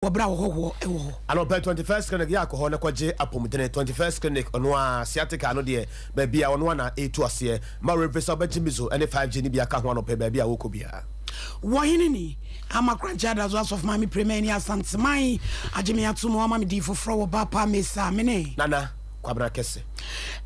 wɔ berɛ a wɔhɔhoɔ wɔ hɔ. Anɔpa 21st clinic yɛ akɔhɔ na kɔgye apɔmudene 21st clinic ɔno ara sciatica no deɛ baabi a ɔno ara na ɛretu aseɛ ma wrɛfiri sɛ ɔbɛgye mizo ne 5G no bi aka ho anɔpa yi baabi a ɔrekɔ biara. Wɔ hene ni ama korankye adazo asɔfo maame prema ani asanteman agye me ato mu ama me din foforɔ wɔ ba pa mesa me ne. Nana kwabena kɛse.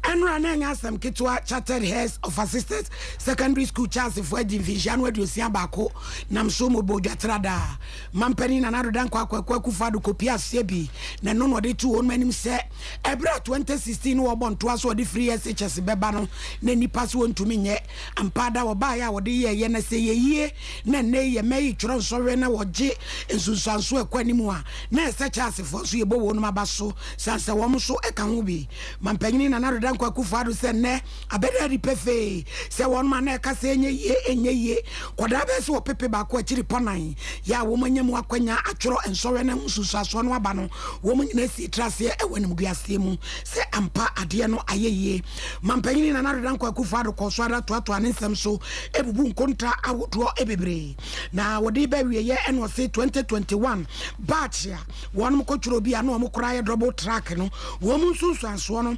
Ɛnora na ɛnyɛ asɛm ketewa chartered heads of assisted secondary school charles fo adi mfinhyia no aduosia baako nam so mobɔ odwa tra daa. Mampanin Nana Addo Dankwa Akwaku Akufo-Addo kɔpie aseɛ bi na ɛno na ɔde too wɔnom anim sɛ ɛberɛ a 2016 no wɔrebɔ ntoa so a ɔde firii SHS bɛba no na nnipa se wɔntumi nyɛ. Ampa ada wɔbaeɛ a wɔde yɛeɛ no sɛ ɛyɛ yie na ɛnnɛ yi yɛ mma yi twerɛ nsɔhwɛ na wɔgye nsunsuansoɔ a ɛkɔ anim a na ɛsɛ Charlesfoɔ nso yɛbɔ wɔnom aba so sane sɛ wɔn nso ka ho bi. Mampanin Nana Addo Dankwa Akufo-Addo sɛ ɛnnɛ Abɛda adi pefee sɛ wɔn ma na ɛka sɛ ɛnyɛ yie, ɛnyɛ yie, kɔdaa bɛyɛ sɛ ɔpepe baako akyiri pɔ nan yɛ a wɔn anya mu akwanya atwerɛ nsɔhwɛ no ho nsunsuasoɔ no aba no, wɔn nyinaa sii tra aseɛ wɔ animguaseɛ mu sɛ ampa adeɛ no ayɛ yie. Mampanin Nana Ado Dankwa Akufo Addo kɔɔ so ara toatoaa ne nsɛm so bubu nkonta ahodoɔ bebree na wɔde reba awieɛ na ɔse 2021 batch a wɔn kɔtwerɛ bi a na wɔn kora ayɛ double track no wɔn nsunsuansoɔ no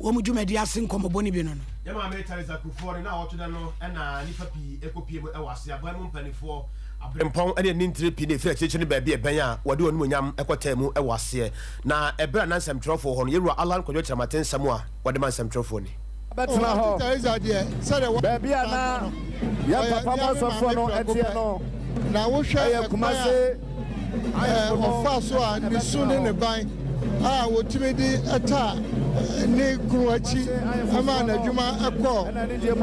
wɔn dwumadi ase nkɔmmɔbɔ no bi no no. Yɛn Maame Theresa Kufuor ne n'awɔtwe da no na nnipa pii kɔpue mu wɔ ase. Aban mu mpanimfoɔ, aberempɔn ne anintire pii na ɛfiri akyirikyiri ne baabi a ɛbɛn a wɔde wɔn animuonyam kɔtaa mu wɔ aseɛ. Na ɛberɛ a na nsɛmtwerɛfoɔ hɔ no, yɛn Wura Allan Kwadwo Kyerɛma te nsɛm a wɔde ma nsɛmtwerɛfoɔ ni. Ɔwɔto Theresa deɛ sɛdeɛ wɔn a wɔtaa no no, ɔyɛ nuanom maame prɛko pɛ. Na wohwɛ ɛkwan a. Ɛɛ, ɔfaa so a ne su ne ne ban a otumi de taa ne kunu akyi maa n'adwuma kɔɔ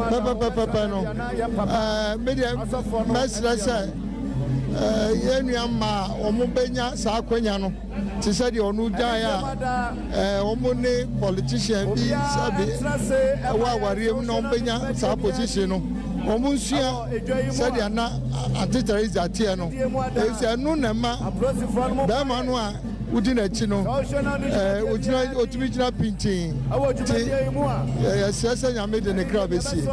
pɛpɛpɛpɛpɛ no, ɛɛ, me deɛ mɛsrɛ sɛ ɛɛ, yɛn nua mmaa a wɔbɛnya saa akwanya no te sɛ deɛ ɔno gyae a, ɛɛ, wɔn ne politician bi sɛbe wɔ awareɛ mu na wɔbɛnya saa position no, wɔn nsua. Sɛdeɛ na Ante Teresa teɛ no, ɛfiri sɛ ɛno na ɛma barima no a wodi n'akyi no, ɔgyina, ɔtumi gyina pintinn. Nti yɛsrɛ sɛ Nyame de ne kra bɛsie.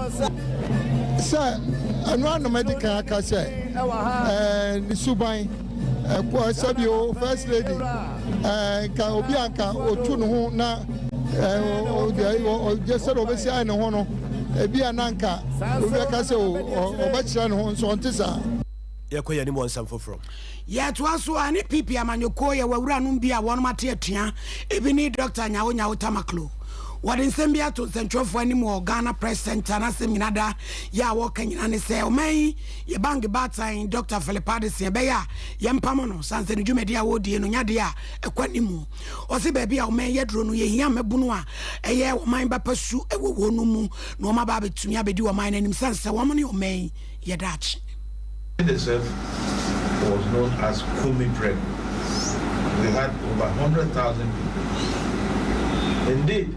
Sɛ ɛno ara na madi kan aka sɛ ne suban, sɛbio First Lady. Nka obi a nka otu ne ho na ɔgye sɛ ɔbɛsi ayɛ ne ho no ebi a na nka obi aka sɛ ɔbɛkyerɛ ne ho nso ɔnte saa. Yɛkɔ yɛn anim wɔ nsɛm foforɔ. Yɛtoa so a ne PP amanyɔkuo yɛ w'awuranom bi a wɔnom ate atua, ebi ne Dɔkta Nyawo Nyawo Tamaklo. Wɔde nsɛm bi ato nsɛntwerɛfoɔ anim wɔ Ghana Press Centre n'asɛm nyinada yɛ a wɔka nyina ne sɛ ɔman yi Yɛ bank baatan Dɔkta Philip Addison ɛbɛyɛ a yɛmpamo no sansani dwumadi a ɔredie no nya deɛ a ɛkɔ anim. Ɔse baabi a ɔman yi aduro no yɛhia mmabunu a ɛyɛ ɔman ba pa su wɔ wɔ nom mu na wɔn aba abɛtumi abɛdi ɔman no anim sane sɛ wɔn ne ɔman yi yɛ daakye. Edeserf was known as Kumi Prep, we had over hundred thousand people indeed.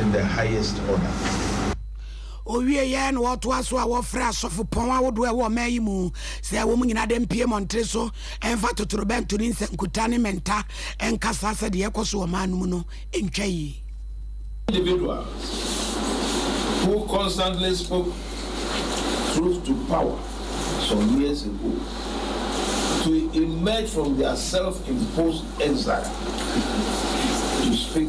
in the highest order. Ɔwieeɛ na wɔtoa so a wɔfrɛ asɔfopɔn ahodoɔ a ɛwɔ ɔman yi mu sɛ wɔn nyinaa de mpue mmɔntere so mfa totorobɛnto ne nsɛnkuta ne mmɛnta nkasa sɛ deɛ ɛrekɔ so wɔ ɔman no mu no ntwa yie. individual who constantly spoke truth to power some years ago to emerge from their self-imposed exile to speak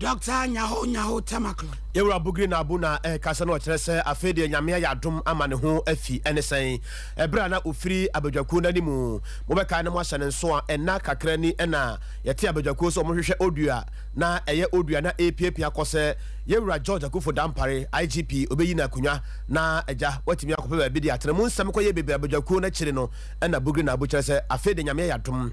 Doctor Nyaho Nyaho Temaklo. Yɛwura Bugiri Naabu na ɛreka sɛ na ɔkyerɛ sɛ afei deɛ Nyame ayɛ adom ama ne ho afi. Ɛne sɛn? Ɛberɛ a na ɔfiri abadwakuo no anim. Mobɛkae na moahyɛ no nso a, nna kakra ni na yɛtee abadwakuo sɛ wɔhwehwɛ Odu a na ɛyɛ Odu a na ɛrepiapia akɔ sɛ Yɛwura George Akuffo Dampare, IGP, ɔbɛyi no akonnwa na agya watumi akɔpɛ baabi de atena. Mu nsɛm kɔyɛɛ bebree abadwakuo no akyiri no na Bugiri Naabu kyerɛ sɛ afei deɛ Nyame ayɛ adom.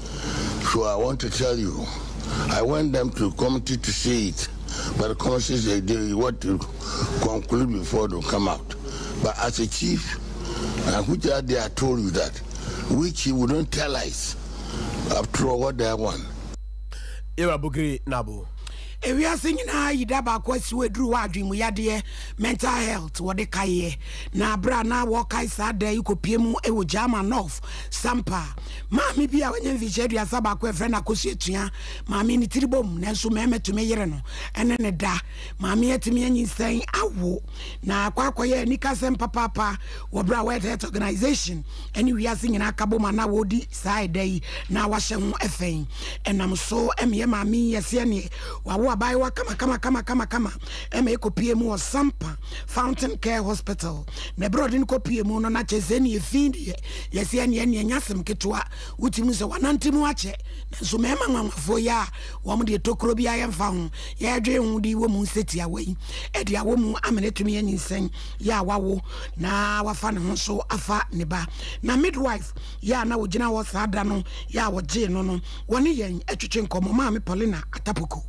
So I want to tell you I want them to committee to see it but the commission said they want to conclude before they come out but as a chief and which are they I told you that we chief we don't tell lies after all what they want Ewa Bugiri Nabo ewiase nyinaa yi da baako asi wɔ aduru hɔ adwene mu yadeɛ mental health wɔde kaeɛ na berɛ a na wɔkae saa da yi kɔpie mu wɔ German North Sampa Maame bi a wanya mfirihyia aduasa baako a ɛfrɛ no Akosua tua maame ne tiri bom nanso mmarima tumi yere no ɛne ne da. Maame atumi anyinsɛn awo na akɔ akɔyɛ anikasɛm papaapa wɔ berɛ a World Health Organization ne wiase nyinaa ka bom anaa wɔredi saa ɛda yi na wahyɛ ho ɛfɛn. Ɛnam so ɛmeɛ maame yi yɛ sɛneɛ wawo abaayewa kamakamakamakama ɛma ɛkɔpie mu wɔ Sampa Fountain Care Hospital na berɛ ɔde no kɔpie mu no na kyɛ sɛ ɛneɛ fi deɛ Yɛse ɛneɛ ɛneɛ nyɛ asem ketewa wotirim sɛ wanante mu akyɛ nanso mɛɛma nwanwafoɔ yi a wɔn deɛ tokuro biara yɛnfa ho yɛɛdwee ho de wɔ mu nsɛ tiawa yi ɛde awɔ mu amene tumi anyinsɛn yɛ a wawo na wafa ne ho so afa ne ba na midwife yɛ a na wɔgyina hɔ saa da no yɛ a wɔgyee no no wɔne yɛn ɛtwetwe nkɔmɔ maame Paulina Atapoko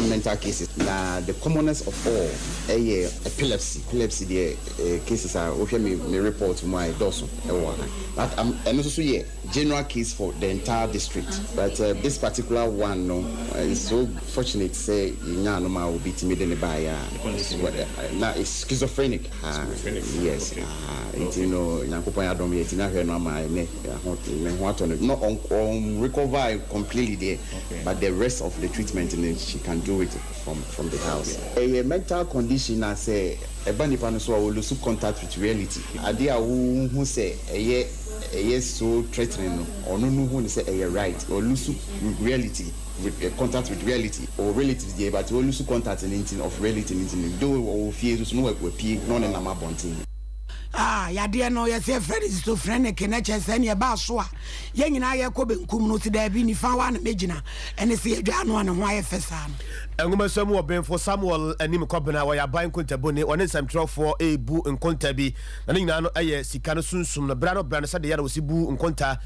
mental cases na the commonest of all ɛyɛ epilepsy epilepsy deɛ eh, cases a wohwɛ me me report mu a ɛdɔɔso ɛwɔ ha but um, ɛno nso so yɛ general case for the entire district but uh, this particular one no uh, is so fortunate sɛ yɛnyaa no ma obi tumi de ne baeɛ a na is schizophrenic Yes, ahaa, nti no Nyankopɔn adom yɛatumi ahwɛ no ama ɛnnɛ, ho, ne ho atɔ no, na ɔn, ɔn recover completely deɛ, but the rest of the treatment no she can do it from, from the house. Ɛyɛ mental condition a sɛ ɛba nipa no so a ɔ lose contact with reality, adeɛ a wohu sɛ ɛyɛ, ɛyɛ so threatening no, ɔno no hu no sɛ ɛyɛ right, ɔ lose reality. Re contact with reality ɔwɔ reality no deɛ but walusu contact no nti of reality no nti no though ɔwɔ fie nso so no wa wapue na ɔne nam abɔnten. Ah yadeɛ no yɛse yɛfrɛ no schizophrenic na kyerɛ sɛ ne ɛbaa so a yɛn nyinaa yɛkɔ benkum no ɔse daabi nifa hɔ a na mɛgyina ɛne se yɛdwaa no a ne ho ayɛ fɛ saa no. Nwomasua mu ɔbenfo Samuel Anim Kɔbena ɔyɛ aban nkontabuni, ɔne nsɛmtwerɛfoɔ rebu nkonta bi, na ne nyinaa no yɛ sika no sunsum no bra no bra no sɛdeɛ yɛ na wɔsi bu nkonta,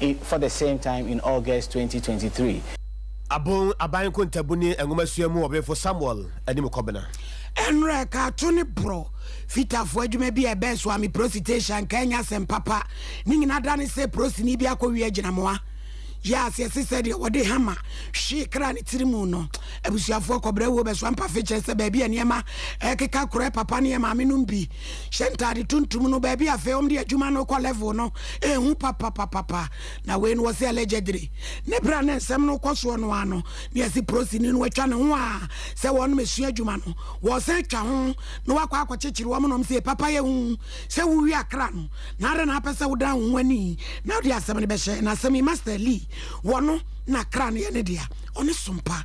in for the same time in August twenty twenty three. Abon Aban Kontabu ne Nwomasua mu Ɔbenfo Samuel Anim Kɔbena. Ɛnora ɛkaato ne borɔ fitafoɔ adwuma bi a ɛbɛɛ so ami prosi tehyɛ anka ɛnyɛ asɛm papa ne nyina da ne sɛ prosini bi akɔ wie agyinamoa yɛ aseɛ se sɛdeɛ wɔde hama hwee kra ne tiri mu no abusuafoɔ kɔbrɛ wuo bɛsoa mpafe kyerɛ sɛ baabi a nneɛma ɛkeka korɛ papa ne yɛ maame nom bi Hyɛ ntaade tuntum no baabi afei wɔn de adwuma no kɔ level no ehu papapapapa na wei no wɔ sɛ allegedly ne bere a ne nsɛm no kɔ soɔ no ano ne yɛsi prosini no watwa ne ho a sɛ wɔn nom esua adwuma no wɔsan atwa ho na wakɔ akɔ kyekyere wɔn nom sɛ papa yɛ hu sɛ wowi akra no na ara na apɛ sɛ wodan ho ani na wode asɛm no bɛhyɛ na asɛm yi master lee wɔn na kra no yɛ ne dea ɔne sompa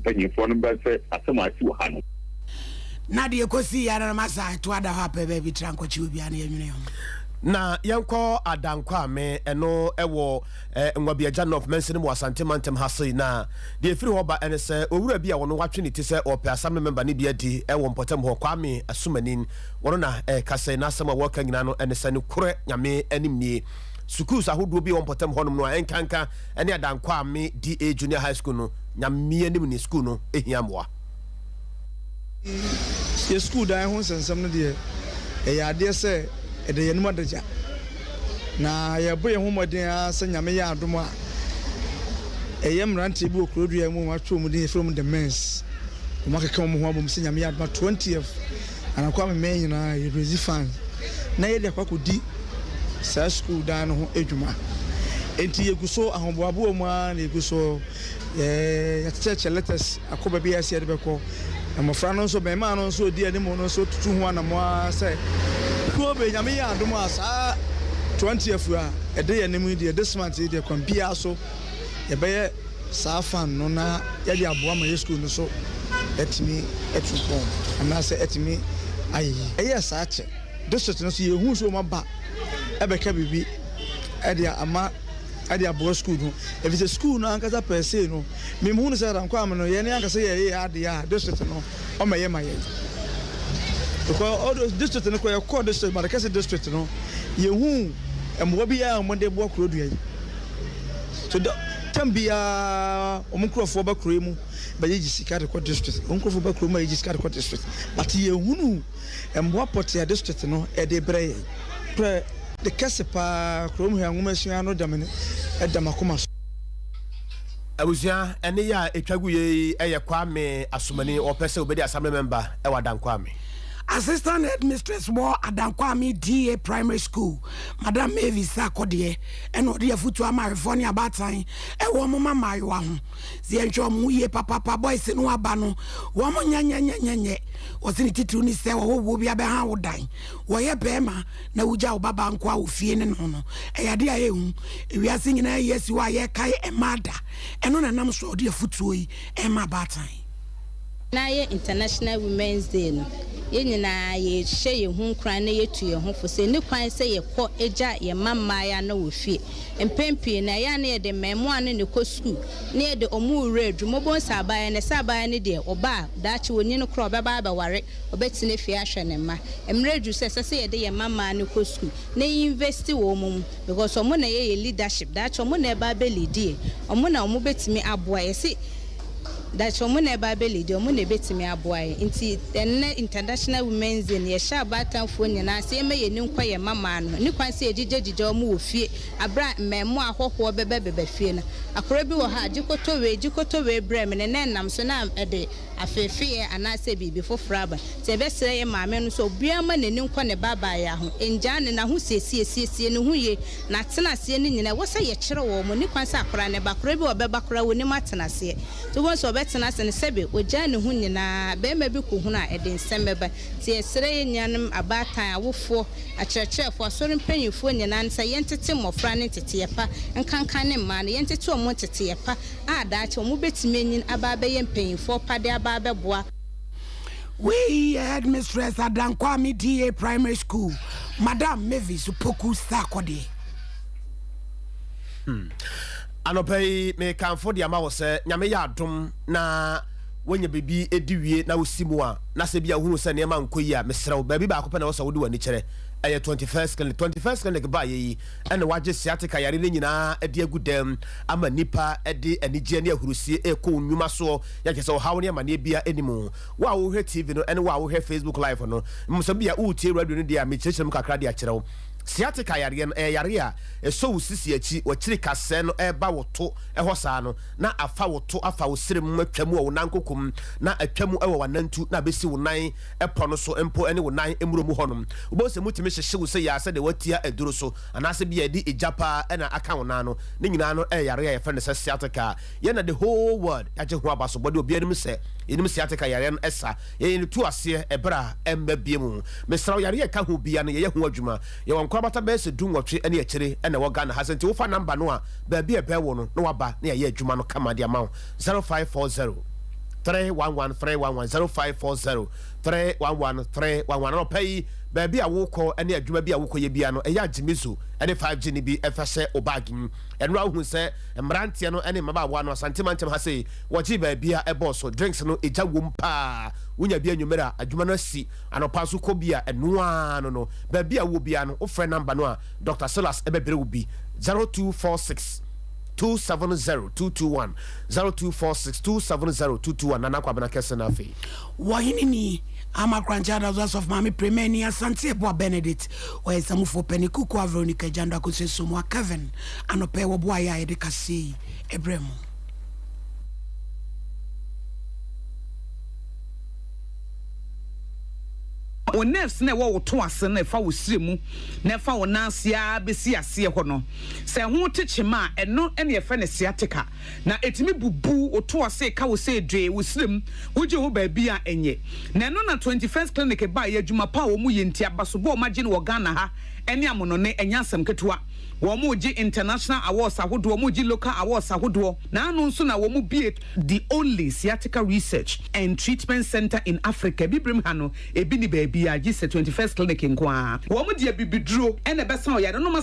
mpanyimfoɔ no bɛhwɛ asɛm a asi wɔ ha no. Na deɛ ɛkɔsii yɛ ara no masa ɛto ada hɔ apɛ baabi tra nkɔkye obi a na yɛnwene yɛn ho. Na yɛnkɔ Adankwame, ɛno ɛwɔ Nwabiagya North mansini mu wɔ Asante mantam ha sei. Na deɛ ɛfiri hɔ ba ɛne sɛ owura bi a ɔno watwe ne ti sɛ ɔrepɛ Assembly member no bi adi wɔ mpɔtam hɔ, Kwame Asumanin, ɔno na ɛreka sɛ n'asɛm a ɔreka nyinaa no ɛne sɛ nokorɛ Nyame anim nie. Sukuus ahodoɔ bi a ɛwɔ mpɔtam hɔnom no a ɛnkanka ɛne Adankwame DA Junior High School no Nyameanim ne sukuu no hia mmoa. Yɛn sukuu dan ho nsɛnsɛm no deɛ, ɛyɛ adeɛ sɛ ɛda yɛn anim adagya, na yɛrebɔ yɛn ho mmɔden ara sɛ Nyame yɛ adom a, ɛyɛ mmeranteɛ bi wɔ Kuro-Dua mu a wɔatwerɛ wɔn din, yɛfrɛ wɔn The Men's, wɔakeka wɔn ho abom sɛ Nyame yɛ adom a 20th Anokwa me mɛn nyinaa yɛbɛdzi fann na yɛde akɔ akɔdi saa sukuu dan no ho adwuma. Enti yɛgu so, ahoboaboa mu ara na yɛgu so. Yɛakyɛkyɛ letters akɔ baabi a yɛsɛ yɛde bɛkɔ. Mmɔfra no nso, mmarimaa no nso a wɔdi anim no nso tutu ho anammɔn ara sɛ kuo bɛn. Nyame yɛ adom a saa 20th a ɛde yɛn anim yi deɛ, this month yi deɛ, kwan biara so yɛbɛyɛ saa fan no na yɛde aboa ma yɛn sukuu no so atumi atu mpɔn anaasɛ atumi ayɛ yie. Ɛyɛɛ saa kyɛ district no so yɛhuu sɛ wɔaba bɛka biribi de ama de aboa sukuu no ɛfiri sɛ sukuu no ankasa per se no mehuu no sɛ Rankwame no yɛn ankasa yɛyɛ yɛn adeɛ a district no ɔmɛyɛ ma yɛn because all those district no kɔ yɛkɔɔ district Badakɛse district no yɛhuu mmoa biara a wɔde boa Kurodua yi. So da tam biara wɔn nkurɔfoɔ ba kuro yi mu bɛgyegye sika de kɔ district, wɔn nkurɔfoɔ ba kuro mu bɛgyegye sika de kɔ district, but yɛhunu mmoa pɔtea district no ɛde brɛ yɛn. Prɛ de kɛse paa kurom hwɛ nwoma sua no dɛm no ɛda makoma so. Abusua, ɛne yɛ a ɛtwa gu yɛ yi yɛ Kwame Asomani, ɔpɛ sɛ ɔbɛdi Assembly Member wɔ Adankwame. Assistant Headmistress wɔ Adankwame DA Primary School, Madam Mavis Sarkodie, ɛna ɔde afutu ama awefoɔ ne abaatan ɛwɔ wɔn ma mmaayewa ho sɛ yɛnhwɛ wɔn ho yie papapa boys no aba no wɔn nyɛnyɛnyɛnyɛnyɛ ɔse ne titiriw ne sɛ wɔwowoɔ bi abɛha wo dan wɔyɛ bɛrima na wogya wo babaa nko a wɔ fie ne no no ɛyɛ ade a ɛhu ewiase nyinaa yi asi hɔ a yɛkae ɛmaa da ɛno na nam so a ɔde afutuo yi ɛma abaatan Ná ɛyɛ International Women's Day no, yɛn nyinaa yɛhyɛ yɛn ho nkuran na yɛtu yɛn ho fo sɛ ɛnni kwan sɛ yɛkɔ gya yɛn mma mmaeɛ no wɔ fie. Mpɛn pii no, ɛyɛ a na yɛde mmarimaa no na ɛkɔ sukuu na yɛde wɔn wura adwuma. Wobɛhu sɛ abaayewa no, ɛsɛ abaayewa no deɛ ɔba a daakye ɔnyin koraa a, ɔbɛba abɛware, ɔbɛtena fie ahwɛ ne mma. Mmerɛ aduru sɛ ɛsɛ sɛ yɛde yɛn mma mmaa no kɔ sukuu na yɛ invest wɔn mu because wɔn na ɛyɛ yɛn leadership. Daakye wɔn na ɛba abɛleadi yɛn. Wɔn na wɔbɛtumi aboa yɛn. Yɛse. daakye wɔn na ɛba abɛli deɛ wɔn na ɛbɛtumi aboa yɛn nti ɛnnɛ international women's day no yɛhyɛ abaatanfoɔ nyinaa sɛ yɛmma yɛn ani nkɔ yɛn mmammaa no ho ɛni kwan sɛ yɛgyigyɛgyigyɛ wɔn wɔ fie aberɛ a mmɛɛmoa ahɔhoɔ bɛbɛbɛba fie no akorɔ bi wɔ hɔ a gye kɔtɔ wei gye kɔtɔ wei brɛ me ne na ɛnam so na ɛde afeefeeɛ anaa sɛ biribi foforɔ aba nti yɛbɛsrɛ yɛn maame no sɛ obiara mma n'ani nkɔ ne babaayaa ho ɛngyaa no n'ahosiesie ɛsiesie ne ho yie N'atenaseɛ no nyina ɛwɔ sɛ yɛkyerɛ wɔ wɔn ani kwan sɛ akora no ba, akora bi wɔ ɔbɛba koraa wɔnim atenaseɛ nti wobɛhu sɛ ɔbɛtena ase no sɛbe ɔgyaa ne ho nyinaa barima bi kɔhunu a ɛde nsɛm bɛba nti yɛsrɛ yɛn nuanom abaatan, awofoɔ, akyerɛkyerɛfoɔ, asɔre mpaninfoɔ nyinaa no sɛ yɛntete mmɔfra no nteteɛ pa nkanka ne mmaa no yɛntete wɔn nteteɛ pa a daakye wɔbɛtumi anyin aba abɛyɛ mpaninfoɔ pa de aba abɛboa Wei yɛ Headmistress Adankwame DA Primary School, Madam Mavis Opoku Sarkodie. Hmm. Anɔpa yi mekamfo de ama wɔ sɛ Nyame yɛ adom na wonya biribi ɛdi wie na wosi mu a na sɛ bi a wohunu sɛ nneɛma nkɔ yi a mesrɛ wo baabi baako pɛ na wɔ sɛ wode w'ani kyerɛ ɛyɛ 21st clinic 21st clinic baayɛ yi na wɔagye sciatica yare no nyinaa de agu dɛm ama nnipa de anigyeɛ ne ahurusie rekɔ wɔn nnwuma soɔ. Yɛ kyerɛ sɛ ɔhaw ne amaneɛ biara nni mu. Wo a wohwɛ TV no ne wo a wohwɛ Facebook Live no, mmom sɛ bia woretie radio no deɛ a, mekyerɛkyerɛ mu kakra de akyerɛ wo. Sciatica yareɛ no, ɛyɛ yare a ɛsɔ wo sisi akyi, w'akyiri kasɛɛ no ɛreba wo to hɔ saa no, na afa wo to, afa wo srɛ mu, atwa mu wɔ wo nan koko mu, na atwa mu wɔ w'anantu, na abɛsi wo nan, pɔ no so mpo ne wo nan mmuro mu hɔnom. Wobɛhu sɛ mutumi hyehye wo sɛyɛ ara sɛdeɛ woatia aduro so, anaasɛ bi a ɛde egya pa ara na aka wo nan ano. Ne nyinaa no yɛ yareɛ a yɛfrɛ no sɛ sciatica. Yɛn na the whole world agye ho abasobɔdeɛ. Obiara nim sɛ yɛnim sciatica yareɛ no sa. Yɛn yɛn tu aseɛ ɛberɛ a ɛmma biom. Mesrɛ wo, yareɛ a ɛka ho biara no yɛyɛ ho adwuma. Yɛwɔ nkorabata bɛyɛ sɛ du nwɔtwe ne akyire na ɛwɔ Ghana ha. Sɛ nti wofa number no a, baabi a ɛbɛn wo no na waba na yɛayɛ adwuma no kama de ama wo. zero five four zero three one one three one one zero five four zero three one one three one one anɔpa yi baabi a wokɔ ne adwuma bi a wokɔyɛ bia no ɛyɛ agyimizo ne 5G no bi ɛfa hyɛ o baage mu ɛno a wohu sɛ mmeranteɛ no ne mmabaawa no asante mantam ha sei wɔgye baabi a ɛbɔɔ so drinks no ɛgya wom paa wonya bi anwummerɛ a adwuma no asi anɔpa nso kɔ bi a ɛnoaa no no baabi a wowɔ bia no wofrɛ namba no a Dr. Silas ɛbɛbrɛ wo bi 0246 Two seven zero two two one zero two four six two seven zero two two one Nana Kwabena kɛse no afei. Wɔ hene ni Ama Kranche Adazo Asɔfo Maame Premani Asante Abua Benedict Ɔyasamufoɔ Panin Kukua Veronica Agyando Akosu Asomuah Kevin anɔpa yi wɔ boayɛ a yɛde kaseɛ yi brɛɛ mo. Wo nerves na ɛwɔ wo to ase no ɛfa wo srɛ mu na ɛfa wo nan ase ara bɛsi aseɛ hɔ no. Sɛ ɛho te kyem a, ɛno na yɛfrɛ no sciatica, na etumi bubu wo toa se ka wo se dwe, wo srem, wogye ho baabi a ɛnyɛ. Na ɛno na Twenty First Clinic baeɛ, adwuma pa a wɔn yɛ nti, abasobɔ a wɔn agye no wɔ Ghana ha ne amonone, ɛnyɛ asɛm ketewa. Wɔn gye international awards ahodoɔ, wɔn gye local awards ahodoɔ, na ano nso na wɔn bue the only sciatica research and treatment centre in Africa, abibirem ha no ebi nni baabiara gye sɛ Twenty First Clinic nko ara. Wɔn de abibiduro na ɛbɛsa wo yareɛ.